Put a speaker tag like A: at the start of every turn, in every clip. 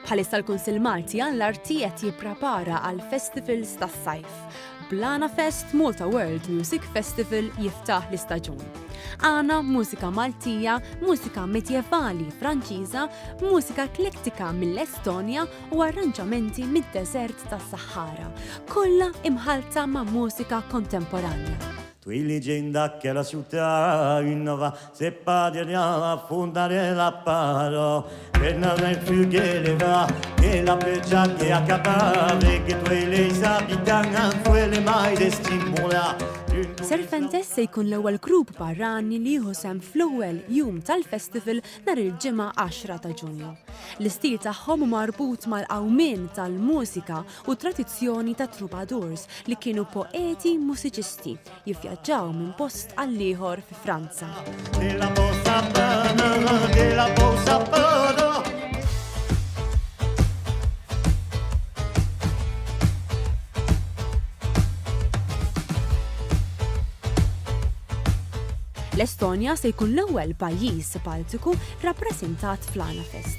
A: Bħalissa l-Kunsill Malti għal l-Arti qed jipprepara għal festivals tas-sajf. Blana Fest Malta World Music Festival jiftaħ l-istaġun. Għana mużika Maltija, mużika medjevali Franċiża, mużika eklektika mill-Estonja u arranġamenti mid-deżert tas-Sahara, kollha imħalta ma' mużika kontemporanja. Twilid ġejn
B: dakkela xutta innova Se paglia a funda della paro, per non è più geleva, che la peccia che a capare, che tu e lei sa pitanga, quelle mai de stimula. Serpentes
A: se jkun l-ewwel grupp barrani li jieħu sehem fl-ewwel jum tal-festival nhar il-Ġimgħa 10 ta' Ġunju. L-istil tagħhom hu marbut mal-qawmien tal-mużika u t-tradizzjoni tat-troubadours li kienu poeti mużiċisti jivvjaġġaw minn post għall-ieħor fi Franza. L-Estonja se jkun l-ewwel pajjiż Baltiku rappreżentat fl-Anafest.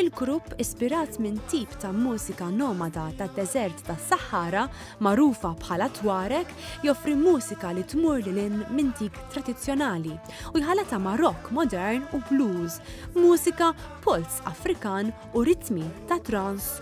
A: il-grupp ispirat minn tip ta' mużika nomada tad-deżert tas-Saħħara magħrufa bħala Tuareg joffri mużika li tmur lil hinn minn dik tradizzjonali u jħallatha ma' rock modern u blues, mużika, polz Afrikan u ritmi ta' trance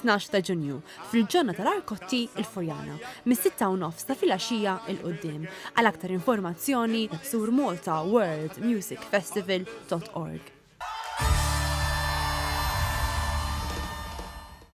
A: tnax ta' Ġunju, fil-ġonna tal-Arkotti, il-Furjana, mis-sitta u nofs ta' filgħaxija 'l quddiem. Għal aktar informazzjoni, żur Malta World Music Festival dot org.